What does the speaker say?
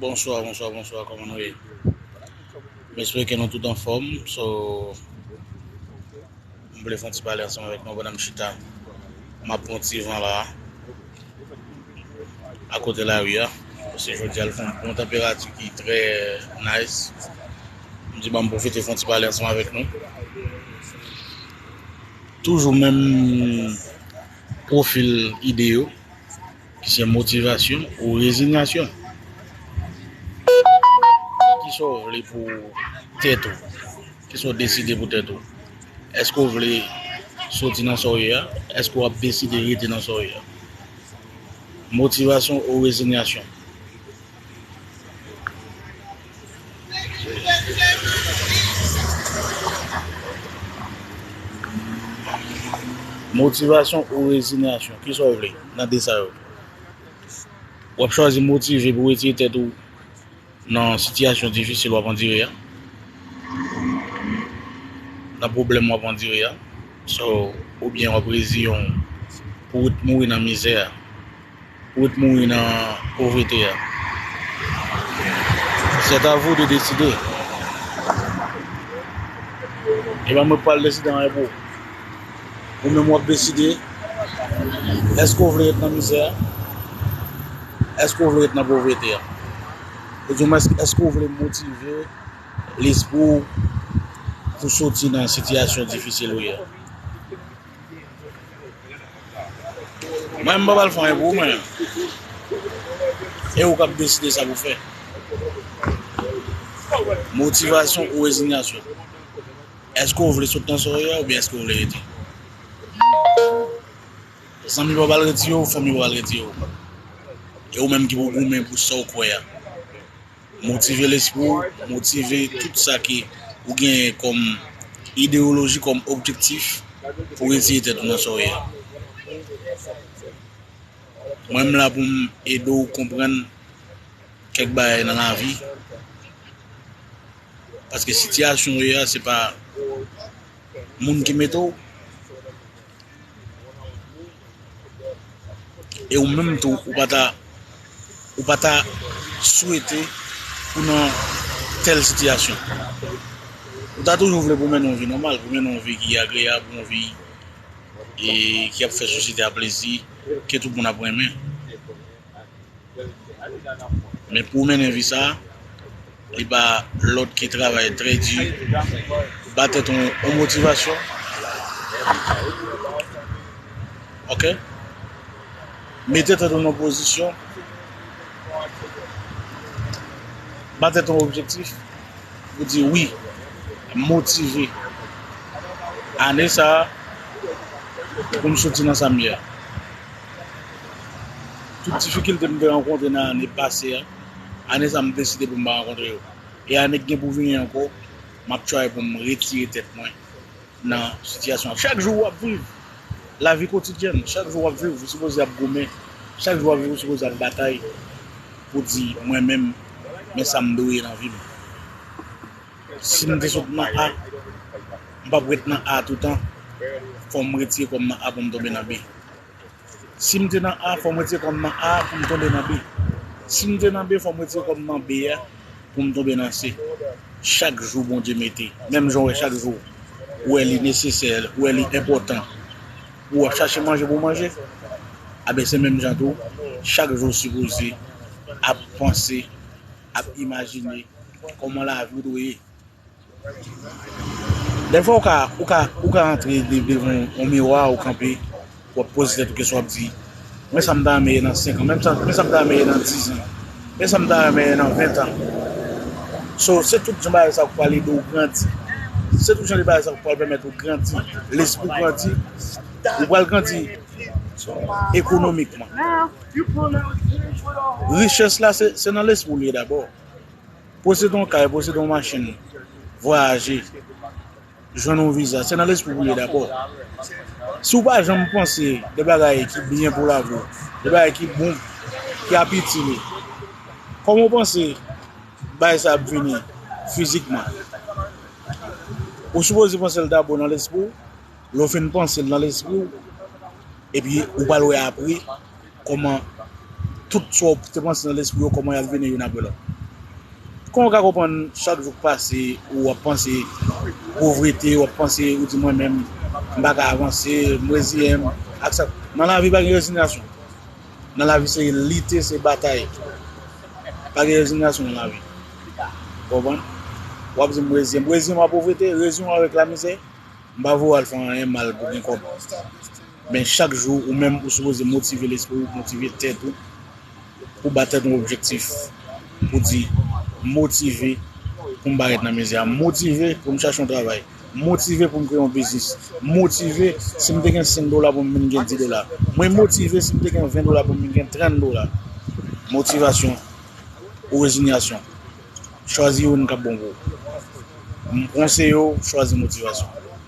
Bonswa bonswa bonswa kòman nou ye M espere ke nou tout anfòm So M vle fon ti pale ansanm avèk nou pandan m chita M ap pran ti van la a kote lari a paske jodi a l fè yon tanperati ki trè nice M di banm pwofite fon ti pale ansanm avèk nou Toujou menm pwofil ide yo ki se motivasyon ou rezinyasyon. Kisa w vle pou tèt ou? Kisa w deside pou tèt ou? Èske w vle soti nan sa w ye a? Èske w ap deside rete nan sa w ye a? Motivasyon ou rezinyasyon? Motivasyon ou rezinyasyon, ki sa w vle nan de sa yo? W ap chwazi motive pou retire tèt ou nan sitiyasyon difisil w ap andire a, nan pwoblèm w ap andire a, oubyen w ap reziyen w pou w mouri nan mizè a? Ou ret mouri nan povrete a. C'est à vous de décider. Epa mwen pral deside anyen pou ou. Ou menm wap deside eske ou vle ret nan mizè a? Eske ou vle ret nan povrete a? Ou di mwen eske ou vle motive lespri ou pou soti nan sitiyasyon difisil ou ye a? Mwen m pa pral fè anyen pou ou mwen. E ou kap deside sa pou fè. Motivasyon ou rezinyasyon. Eske ou vle sot nan sa ou ye a oubyen eske ou vle rete. Zanmi pa pral retire ou, fanmi pa pral retire ou. E ou menm ki pou goumen pou sa ou kwè a. Motive lespri w, motive tout sa ke ou genyen kòm ideyoloji, kòm objektif pou retire tèt ou nan sa w ye a. Mwen m la pou m ede w konprann kèk bagay nan lavi, paske sitiyasyon w ye a se pa moun ki mete w, E ou menm tou ou pa ta ou pa ta swete pou nan tèl sitiyasyon. Ou ta toujou vle pou mennen yon vi nòmal, pou mennen yon vi ki agreyab, yon vi ki ap fè sosyete a plezi, ke tout moun ap renmen. Men pou mennen vi sa, li ba lòt ki travay trè di, ba tèt ou yon motivasyon. Ok? Mete tèt ou nan pozisyon, ba tèt ou objektif, ou di wi, motive. Ane sa, pou m soti nan sa m ye a. Tout difikilte m te rankontre nan ane pase a, ane sa m deside pou m pa rankontre yo. E ane k gen pou vini ankò, m ap try pou m retire tèt mwen nan sitiyasyon an. Chak jou w ap viv lavi kotidyèn, chak jou w ap viv ou sipoze ap goumen, chak jou w ap viv ou sipoze ap batay pou di mwen menm men sa m dwe nan vi m. Si m te sot nan A, m p ap ret nan A toutan, fò m retire kò m nan A pou m tonbe nan B. Si m te nan A fò m retire kò m nan A pou m tonbe nan B. Si m te nan B fò m retire kò m nan B a pou m tonbe nan C. Chak jou Bondye mete, menm jan w wè chak jou ou wè li nesesè, ou wè li enpòtan pou w ap chache manje pou w manje, anben se menm jan tou chak jou ou sipoze ap panse, ap imajine kòman lavi w dwe ye. Dè fwa ou ka, ou ka, ou ka antre de, devan yon miwa, ou kanpe, w ap poze tèt ou kesyon, w ap di, men sa m ta renmen ye nan senkan, men sa, men sa m ta renmen ye nan dizan, men sa m ta renmen ye nan ventan. So, se tout jan bagay sa yo ki pral ede w grandi. Se tout jan de bagay sa yo ki pral pèmèt ou grandi, lespri w grandi, ou pral grandi ekonomikman. Richès la se, se nan lespri w li ye dabò. Posede yon kay, posede yon machin, vwayaje, jwenn yon viza, se nan lespri pou l ye dabò. Si w pa janm panse de bagay ki byen pou lavi w, de bagay ki bon, ki ap itil ou, kòman w panse bagay sa ap vini fizikman? Ou sipoze panse l dabò nan lespri w, lè w fin panse l nan lespri w, epi ou pral wè apre. Kòman tout sa w te panse nan lespri w kòman y ap vini youn apre lòt? Kòman w ka konprann chak jou k pase ou ap panse povrete, w ap panse ou di mwen menm m pa ka avanse, m reziyen m ak sa. Nan lavi pa gen rezinyasyon, nan lavi se lite, se batay. Pa gen rezinyasyon nan lavi. Ou konprann? W ap di m reziyen m, reziyen m a povrete, reziyen m avèk lamizè, m pa vle w al fè anyen mal pou gen kòb. Men chak jou ou menm ou sipoze motive lespri ou, motive tèt ou pou ba tèt ou objektif pou di m motive pou m parèt nan mizik la, m motive pou m chache yon travay, m motive pou m kreye yon biznis, m motive si m te gen 5 dola pou m vin gen 10 dola, mwen motive si m te gen 20 dola pou m vin gen 30 dola. Motivasyon ou rezinyasyon? Chwazi youn k ap bon pou ou. M konseye w chwazi motivasyon.